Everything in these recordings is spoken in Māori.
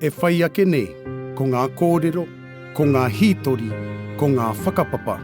E whai ake nei, ko ngā kōrero, ko ngā hītori, ko ngā whakapapa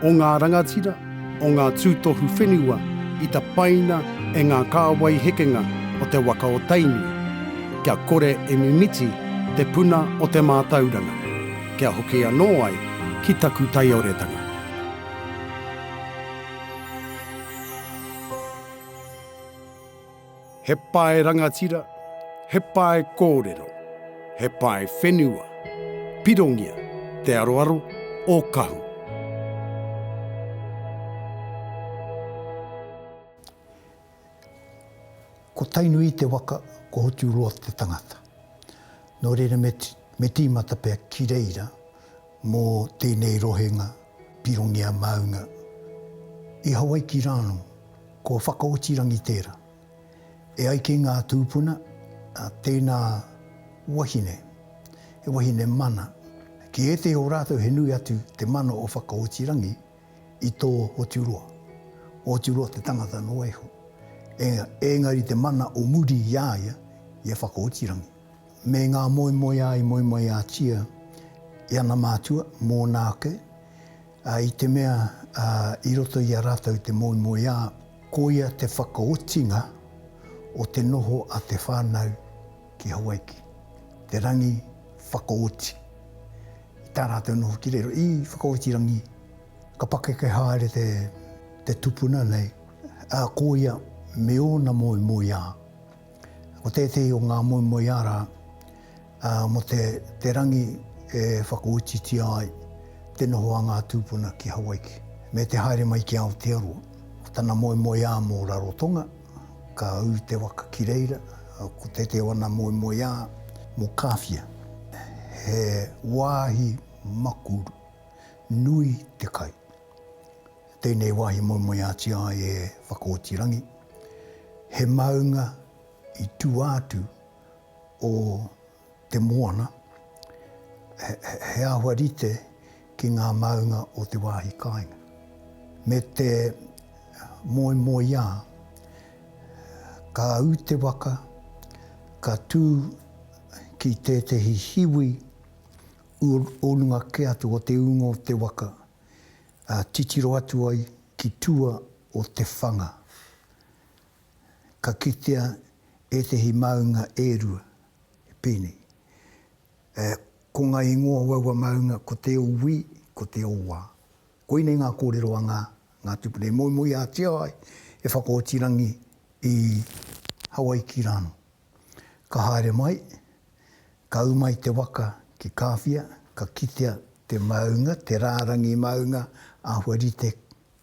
o ngā rangatira, o ngā tūtohu whenua i tapaina e ngā kāwai hekenga o te waka o Tainui, kia kore e mimiti te puna o te mātauranga, kia hoki anō ai ki taku taioretanga. He pae rangatira, he pae kōrero, he pae whenua, pirongia te aroaro o Kahu. Ko Tainui te waka, ko Hoturoa te tangata. Nō reira me tīmata pea ki reira, Mō tēnei rohenga pirongia maunga i Hawaiki rānō, ko Whakaotirangi tērā. E ai ki ngā tūpuna, tēnā wahine, he wahine mana. Ki ētehi o rātou he nui atu te mana o Whakaotirangi i tō Hoturoa. Ko Hoturoa te tangata noa iho, engari te mana o muri i a ia, i a Whakaotirangi. me ngā moemoeā i moemoeātia i ana mātua, mōna ake, ā, i te mea, ā, i roto i a rātou te moemoeā, koia te whakaotinga o te noho a te whānau ki Hawaiki, te rangi whakaoti. I tā rātou noho ki riro, i whakaoti rangi, ka pakeke haere te, te tupuna nei, ā, koia me ōna moemoeā, Ko tētehi o ngā moemoeā rā, mō te rangi e whakaotitia ai te noho a ngā tūpuna ki Hawaiki, me te haere mai ki Aotearoa. Ko tana moemoeā mō Rarotonga, ka ū te waka ki reira, ko tētehi o ana moemoeā mō Kāwhia, he wāhi maku nui te kai, Tēnei wāhi moemoeātia ai e Whakaotirangi, he maunga i tūātu o te moana, he āhua rite ki ngā maunga o te wāhi kāinga. Me te moemoeā, ka ū te waka, ka tū ki tētehi hiwi o runga kē atu o te ūnga o te waka, Ā, titiro atu ai ki tua o te whanga, ka kitea ētehi māunga e rua, pēnei, e, ko ngā ingoa o aua māunga ko Te Owī, ko Te Owā. Koinei ngā kōrero a ngā, ngā tūpuna e moemoeātia ai e Whakaotirangi i Hawaiki rānō. Ka haere mai, Ka ū mai te waka ki Kāwhia, ka kitea te maunga, te rārangi maunga āhua rite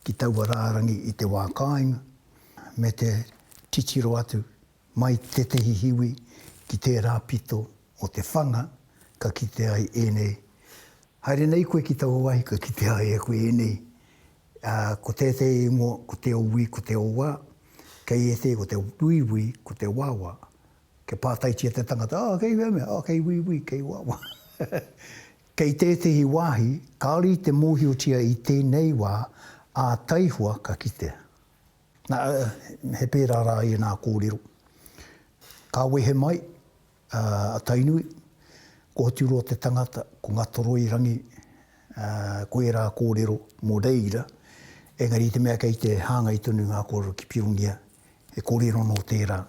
ki taua rārangi i te wā kāinga, me te titiro atu mai tētehi hiwi ki tērā pito o te whanga ka kite ai ēnei, Haere nei koe ki taua wāhi ka kitea ai e koe ēnei, ā, ko tētehi ingoa ko Te Owī, ko Te Owā, kei ētehi ko Te Wīwī, ko Te Wāwā, Kia pātaitia te tangata, oh, kei whea mea? Oh, kei wīwī, kei wāwā. Kei tētehi wāhi, kāore i te mōhiotia i tēnei wā, ā taihua ka kitea. Nā, he pērā rā ēnā kōrero. Ka wehe mai a Tainui, ko Hoturoa te tangata, ko Ngatoroirangi, ko ērā kōrero mō reira, engari i te mea kei te hāngai tonu ngā kōrero ki Pirongia, he kōrero nō tērā,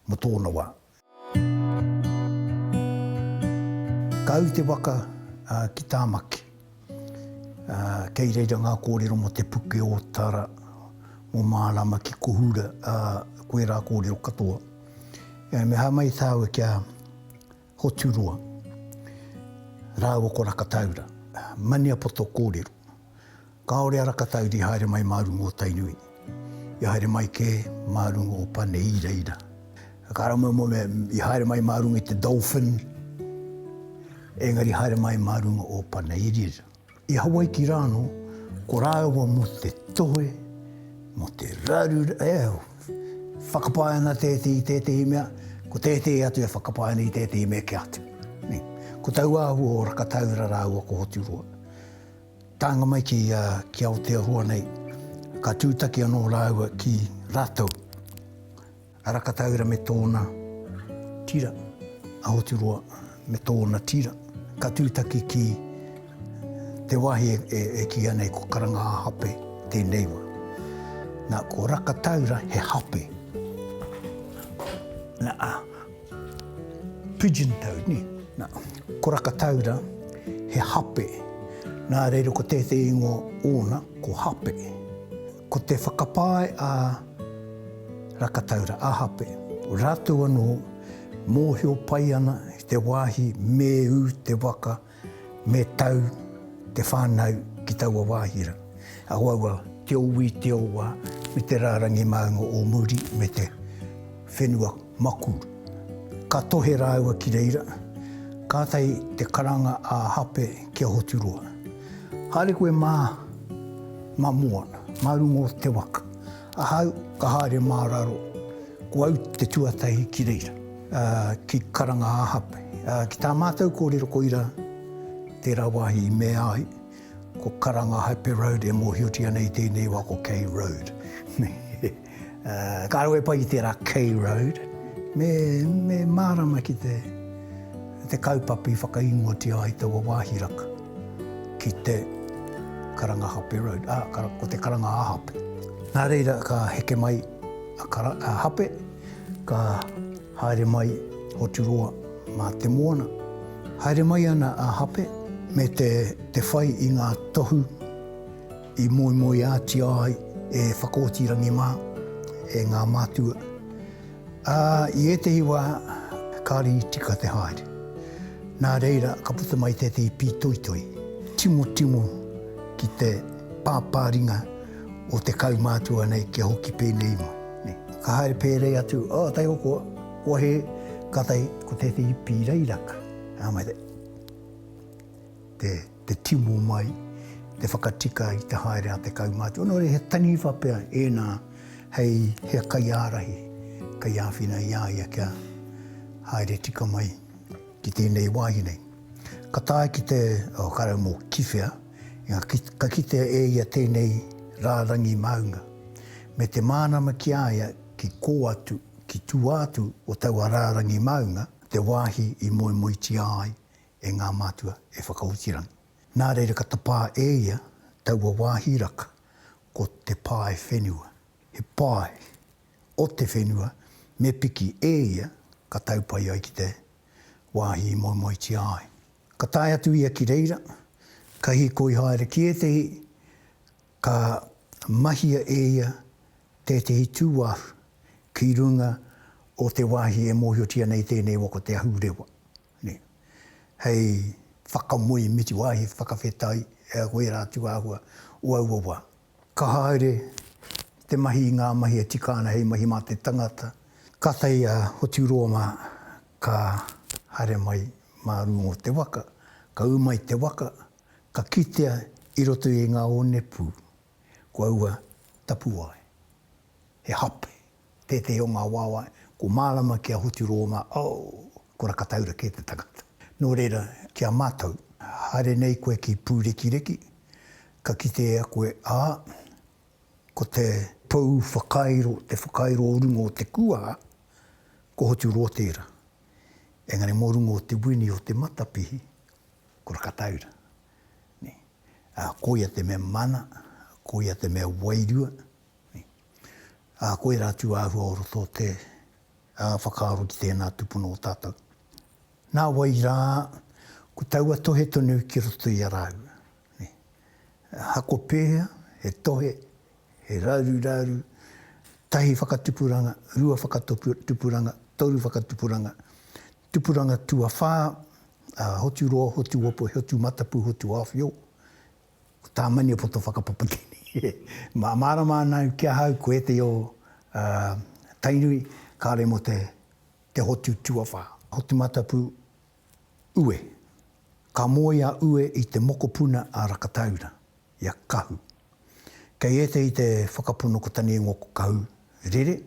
mō tōna wā. Ka au te waka ki Tāmaki. Kei reira ngā kōrero mō Te Puke o Tara, mō Mārama ki Kohura, koe rā kōrero katoa. Me hā mai tāua kia. Hoturoa, rāua ko Rakataura, Maniapoto kōrero, kāore a Rakataura i haere mai mā runga o Tainui, i haere mai kē mā runga o Pane Iraira. Karamoemo me, i haere mai mā runga i te Dolphin, engari i haere mai mā runga o Pane Iraira. I Hawaiki rāno, ko rāua mō te tohe, mō te raru, e au, whakapae ana tēti i tētehi mea, ko tētehi atu e whakapae ana i tētehi mea ki atu. Nei. Ko tau āhua o Rakataura rāua ko Hoturoa. Tānga mai ki, a, ki Aotearoa nei, ka tūtaki anō rāua ki rātou. A Rakataura me tōna tira, a Hoturoa me tōna tira, ka tūtaki ki te wāhi e kīia nei ko Karanga-ā-Hape tēnei wā. Nā, ko Rakataura he hape. Nā, a pigeon toed, ni? Nā, ko Rakataura he hape. Nā reira ko tētehi ingoa ōna ko Hape. Ko te whakapae a Rakataura, a Hape, rātou anō mōhio pai ana i te wāhi me ū te waka, me tau te whānau ki taua wāhi rā. Auaua te ō wī, te ō wā, me te rārangi māunga ō muri me te whenua. Maku. Ka tohe rāua ki reira, kātahi te karanga a Hape ki a Hoturoa, Haere koe mā, mā mua, mā runga o te waka. Ahau ka haere mā raro, ko au te tuatahi ki reira. Ki karanga a Hape. Ki tā mātou kōrero koira tērā wāhi i mea ai, ko karanga Hape Road e mōhiotia nei tēnei wā ko Kei Road. Ka rawe pai ki tērā Kei Road, me me mārama ki te te kaupapa i whakaingoatia ai taua wāhi raka ki te Karangahape Road, ā, ko te Karangāhape. Nā reira ka heke mai a Kara, a Hape, ka haere mai Hoturoa mā te moana. Haere mai ana a Hape me te te whai i ngā tohu I moemoeātia ai e Whakaotirangi mā, e ngā mātua, ā, i ētehi wā kāre i tika te haere. Nā reira ka puta mai tētehi pītoitoi, timotimo ki te pāpāringa o te kaumātua nei kia hoki pēnei mai. Ka haere pērei atu, oh, taihokoa, kua hē, kātahi ko tētehi pīrairaka. Ā, mai te. te timo mai, te whakatika i te haere a te kaumātua, nō reira he taniwha pea ēnā hei hea kaiārahi, kei āwhina i a ia kia haere tika mai ki tēnei wāhi nei. Ka tae ki te, oh, ka rau mō Kiwhea, inga, ka kitea e ia tēnei rārangi māunga, me te mānama ki a ia ki kō atu, ki tua atu o taua rārangi māunga, te wāhi i moemoetia ai e ngā mātua e Whakaotirangi. Nā reira ka tapā e ia taua wāhi raka ko Te Pae Whenua. He pae o te whenua me piki e ia ka tau pai ai ki te wāhi i moemoetia ai. Ka tae atu ia ki reira, ka hīkoi haere ki ētehi, ka mahia e ia tētehi tūāhu ki runga o te wāhi e mōhiotia nei tēnei waka o Te Ahurewa. Nei. Hei whakamoe miti wāhi whakawhetai e a koe rā tūāhua o aua wā. Ka haere te mahi i ngā mahi e tika ana hei mahi mā te tangata. Kātahi a Hoturoa mā ka haere mai mā runga o te waka, ka ū mai te waka, ka kitea i roto i ngā onepū ko aua tapuwae, he hape. Tētehi o ngā wāwae, ko Mārama ki a Hoti Rōma, oh! ko Rakataura kē te tangata. Nō reira, ki a mātou, haere nei koe ki Pūrekireki, ka kite e a koe, ā, ko te pou whakairo, te whakairo o runga o te kua, ko Hoti Rō tērā. Engari mō runga o te wini o te matapihi, ko Rakataura. Nē. Ā, koia te mea mana, koia te mea wairua. Ā, ko ērā tū āhua o roto te whakaaro ki tēnā tūpono o tātou. Nā wai rā, ko taua tohe tonu ki roto i a rāua. Hako pēhea, he tohe, he raru raru, tahi whakatupuranga, rua whakatupuranga, toru whakatupuranga, tupuranga tuawhā, hotu roa, hotu ope, hotu matapu, hotu awhio, Ko tā Maniapoto whakapapa tēnei e mārama ana au ki ahau ko ētahi o Tainui kāore mō te hotu tuawhā. Hotumatapū Ue Ka moe a Ue i te mokopuna a Rakataura, i a Kahu. Kei ētahi te whakapono ko tana ingoa ko Kahu Rere,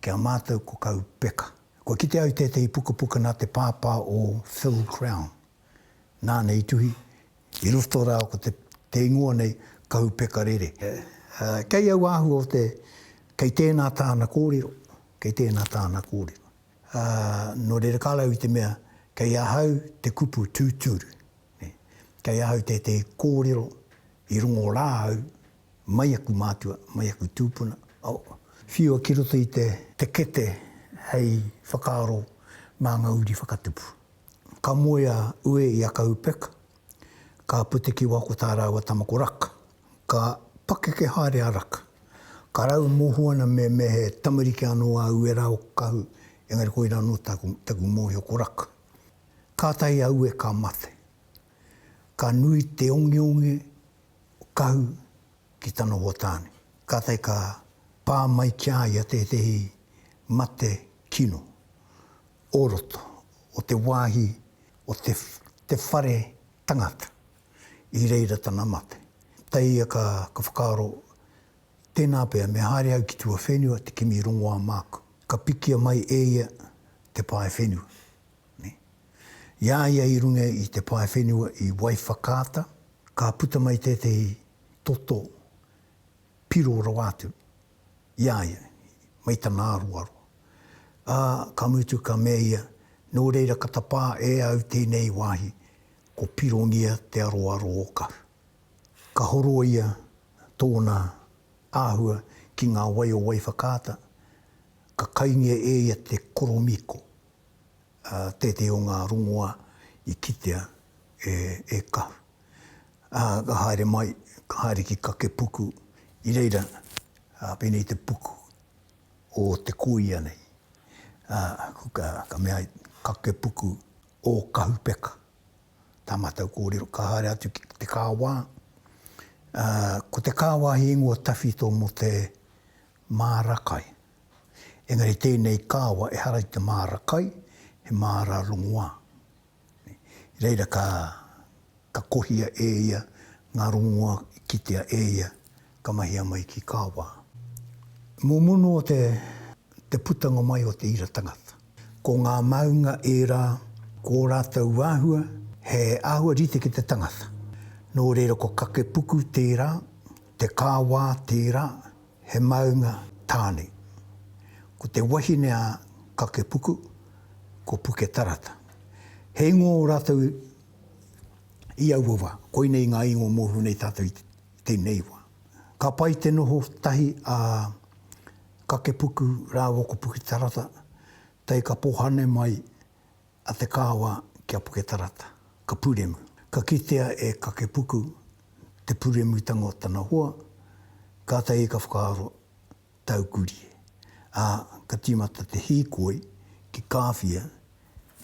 ki a mātou ko Kahu Peka. Kua kite au i tētahi pukapuka nā te pāpā o Phil Crown. nāna i tuhi, i roto rā ko te, te ingoa nei, Kahu Pekarere. Kei au āhua o te, kei tēnā tāna kōrero, kei tēnā tāna kōrero. Nō reira ka rau i te mea, kei ahau te kupu tūturu, kei ahau tētehi kōrero i rongo rā au mai aku mātua, mai aku tūpuna, whiua ki roto i te, te kete hei whakaaro mā ngā uri whakatupu. Ka moe a Ue i a Kaupeka, ka puti ki wako tā rāua tama ko Raka. Ka pakeke haere a Raka. Ka rau moho ana me me he tamariki anō a Ue rā o Kahu, engari koirā anō taku, taku mōhio ko Raka. Kātahi a Ue ka mate. Ka nui te ongeonge o Kahu ki tana hoa tāne. Kātahi ka pā mai ki a ia tētehi mate kino. o roto o te wāhi o te te whare tangata i reira tana mate. Tēia ka ka whakaaro tēnā pea me haere au ki tua whenua te kimi rongoā māku. Ka pikia mai eia te pae whenua. Ne. I a ia i runga i te pae whenua i Waiwhakaata ka puta mai tētehi toto Piro rawa atu i a ia mai tana aroaro, ā, ka mutu ka mea ia, Nō reira ka tapā e au tēnei wāhi, ko Pirongia te aroaro o Kahu. Ka horoia tōna āhua ki ngā wai o Waiwhakaata, ka kaingia e ia te koromiko. Tētehi o ngā rongoa i kitea e Kahu. Ka haere mai, ka haere ki Kakepuku, i reira pēnei te puku o te kōia nei. Ka mea ai, Kakepuku o Kahupeka, tā mātou kōrero. Ka haere atu ki te kāwā. Ko te kāwā he ingoa tawhito mō te māra kai. Engari tēnei kāwa ehara i te māra kai, he māra rongoā. I reira ka, ka kohia e ia ngā rongoā i kitea e ia, ka mahia mai ki kāwā. Mō munu o te, te putanga mai o te ira tangata. Ko ngā maunga ērā, ko ō rātou āhua, he āhua rite ki te tangata. Nō reira ko Kakepuku tērā, te kāwā tērā, He maunga tāne. Ko te wahine a Kakepuku, ko Puketarata. He ingoa o rātou i aua wā. Koinei ngā ingoa mōhio nei tātou i tēnei wā. Ka pai te noho tahi a Kakepuku rāua ko Puketarata, tae ka pohane mai a Te Kaawa ki a Puketarata, ka puremu. Ka kitea e Kakepuku te puremutanga o tana hoa, kātahi ka whakaaro, Tau kurie. Ā, ka tīmata te hīkoi ki Kāwhia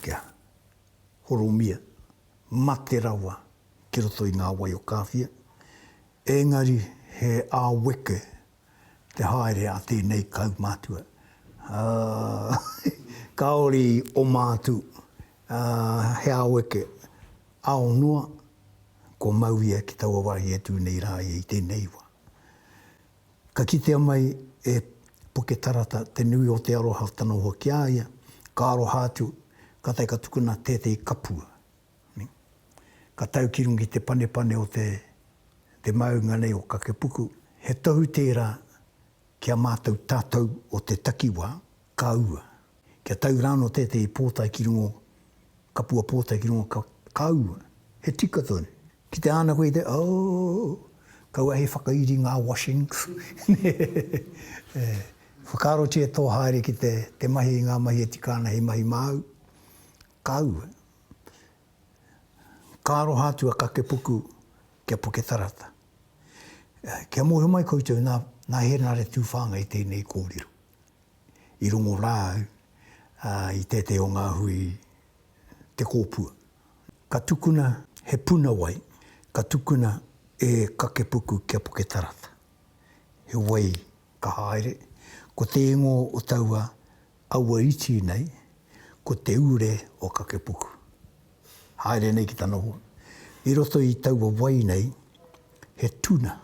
kia horomia, mate rawa ki roto i ngā wai o Kāwhia, ēngari he āweke te haere a tēnei kaumātua. Ā, kāore i oma atu, ā, he ao eke, ao noa, kua mau ia ki taua wā i atu nei rā ia i tēnei wā. Ka kitea mai e Puke Tarata te nui o te aroha o tana hoa ki a ia, ka aroha atu, kātahi ka tukuna tētehi kapua Ka tau ki runga i te panepane o te te maunga nei o Kakepuku. He tohu tērā ki a mātou tātou o te takiwā, ka ua. Kia tau rānō tētehi pōtae ki runga o kapua pōtae ki runga ka ua. He tika tonu. Ki te ana koe i te ooh, kaua hei whakairi ngā washings. Whakaarotia e tō haere ki te mahi i ngā mahi e tika ana hei mahi māu, ka ua. Ka aroha atu a Kakepuku ki a Puketarata. Kia mōhio mai koutou, nā, nā Hēnare Tūwhāngai tēnei kōrero. I rongo rā au i tētehi o ngā hui Te Kōpua. Ka tukuna he puna wai, ka tukuna e Kakepuku ki a Puketarata. He wai ka haere, ko te ingoa o taua Aua iti nei, ko Te Ure o Kakepuku. Haere nei ki ta noho. I roto i taua wai nei, he tuna,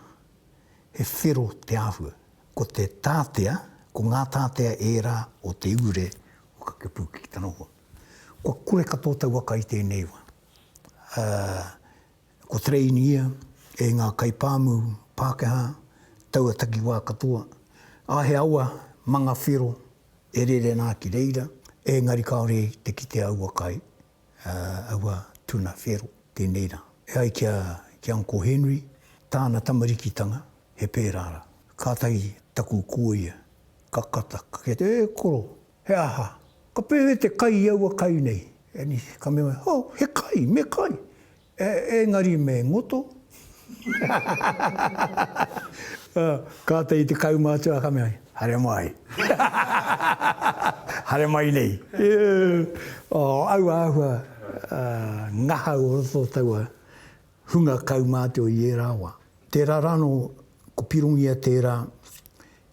he whero te ahua. Ko te tatea, ko nga tatea era o Te Ure o Kakepuku ki ta noho. Kua kore katoa taua kai tenei wa. Ko Train ia e ngā kaipāmu Pākehā taua takiwā katoa. A he awa manga whero e rere nā ki reira, ēngari kāore i te kite aua kai, aua tuna whero, tēnei rā. E ai ki a, ki Uncle Henry, tāna tamarikitanga, he pērā rā. Kātahi taku kōia, ka kata, ka kite, e koro, He aha? Ka pēwhea te kai i aua kai nei? Anise, ka mea, Oh, he kai, me kai. Engari me ngoto. Kātahi i te kaumātua ka mea, Haere mai. Haere mai nei. Aua āhua ngahau o roto o taua hunga kaumātua i ērā wā. Tērā rānō, ko Pirongia tērā,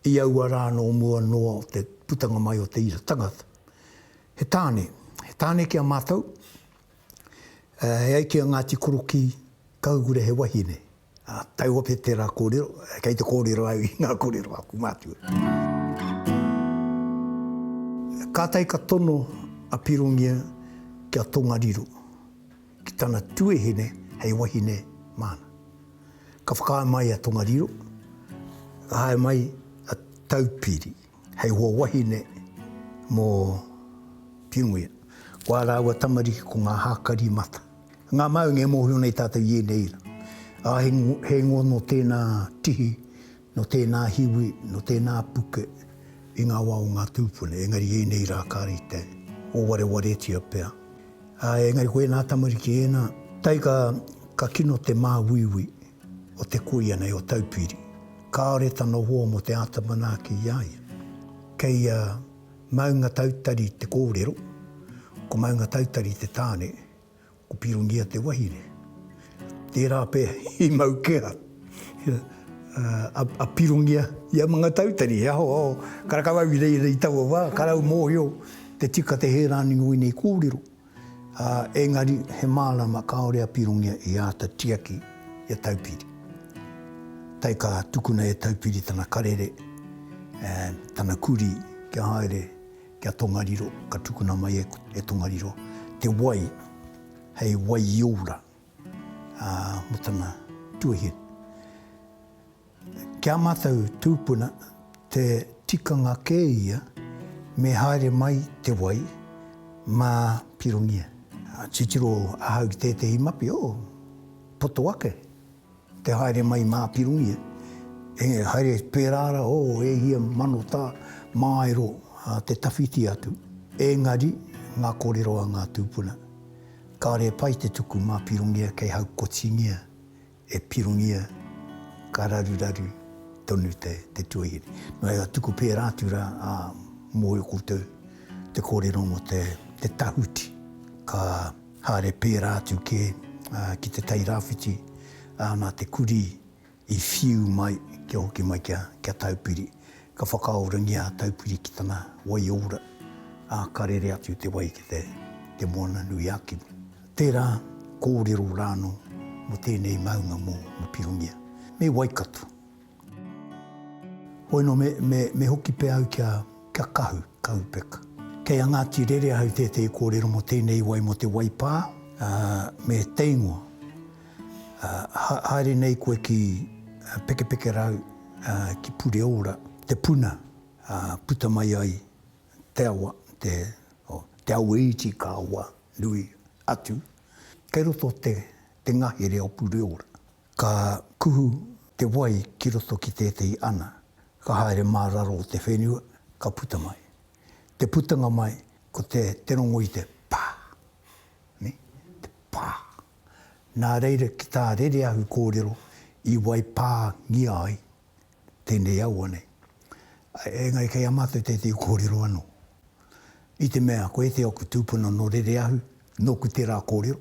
I aua rā nō mua noa o te putanga mai o te ira tangata, he tāne, he tāne ki a mātou, e ai ki a Ngāti Korokī, ka hukura he wahine. Ā, tae ope tērā kōrero, kei te kōrero au i ngā kōrero a aku mātua. Kātahi ka tono a Pirongia ki a Tongariro. ki tana tuehene hei wahine māna. Ka whakaae mai a Tongariro, ka hae mai a Taupiri hei hoa wahine mō Piungia. Ko ā rāua tamariki ko ngā hākari mata. Ngā maunga e mōhio nei tātou i ēnei ira. Ā, he ngono tēnā tihi Nō tēnā hiwi, nō tēnā puke i ngā wā o ngā tūpuna, engari ēnei rā ka rite, o warewaretia pea. Ā, engari ko ēnā tamariki ēnā, tae ka, ka kino te māuiui o te kuia nei o Taupiri, kāore tana hoa mō te āta manaaki i a ia. Kei a Maungatautari te kōrero, ko Maungatautari te tāne, Ko Pirongia te wahine. Tērā pea i mau kea a Pirongia i a Mangatautari, he aho karakawau i reira i taua wā, karau mōhio te tika te hē rānei o ēnei kōrero, ā, engari he mārama kāore a Pirongia i āta tiaki i a Taupiri. Tae ka tukuna e Taupiri tana karere, tana kurī kia haere, Ki a Tongariro, ka tukuna mai e, e Tongariro, te wai hei waiora, ā, mō tana tuahine. Ki ā mātou tūpuna, te tikanga kē ia me haere mai te wai mā Pirongia. Titiro ahau ki tētehi mapi, oh, poto ake. Te haere mai mā Pirongia, e haere pērā rā, o, e hia mano tā, māero te tawhiti atu. Engari, ngā kōrero a ngā tūpuna, kāre pai te tuku mā Pirongia kei haukotingia e Pirongia, ka raruraru tonu te tuahine. Nō reira, tuku pērā atu rā, ā, mōhio koutou te kōrero mō te tahuti, ka. Haere pērā atu kē ki te Tai Rāwhiti, ā, nā te kurī i whiu mai kia hoki mai kia Taupiri. Ka whakaorangia a Taupiri ki tana wai ora, ā, ka rere atu te wai ki te Moana nui a Kimi. Tērā kōrero rānō mō tēnei maunga mō Pirongia, me Waikato. Hoi no me hoki pea au kia Kahu, Kahupek. Kei a Ngati Rere ahau tētehi kōrero mo tēnei wai mo te wai pā, me teingoa. Haere nei koe ki Pekepekerau, ki Pureora, te puna puta mai ai te awa, te awa iti ka awa nui atu, kei roto te ngahere o Pureora. Ka kuhu te wai ki roto ki tētehi ana, ka haere mā raro o te whenua, ka puta mai. Te putanga mai, ko te, te rongo i te pa! Ne? Te pa! Nā reira ki tā Rereahu kōrero i wai pā ngia ai tēnei aua nei. Engari kei a mātou tētehi kōrero anō. I te mea ko ētehi o aku tūpuna nō Rereahu, nōku tērā kōrero.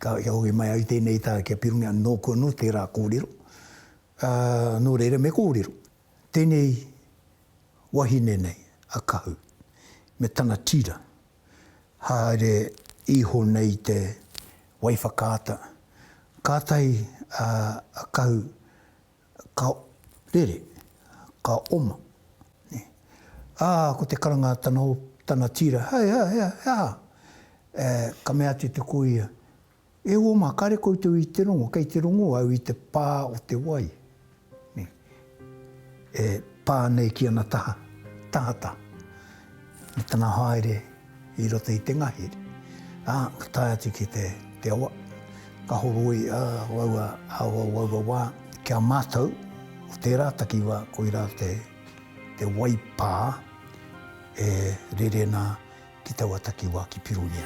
Ka hoki mai au i tēnei taha kia pirongia atu nōku anō tērā kōrero, ā, nō reira me kōrero tēnei wahine nei, a Kahu, me tana tira, haere iho nei te waiwhakaata. Kātahi a Kahu Ka rere, ka oma. Ā, ko te karanga tana o tana tīra, Hei, hei, hei, he aha? Ē, ka mea atu te kōia, E ō mā, kāre koutou i te rongo, kei te rongo au i te pā o te wai, e pā nei ki ana taha, tahata. I tana haere i roto i te ngahere, ā, ka tae atu ki te awa, ka horoi aua awa o aua wā ki a mātou, ko tērā takiwā koirā te waipā e rere nā ki taua takiwā ki Pirongia.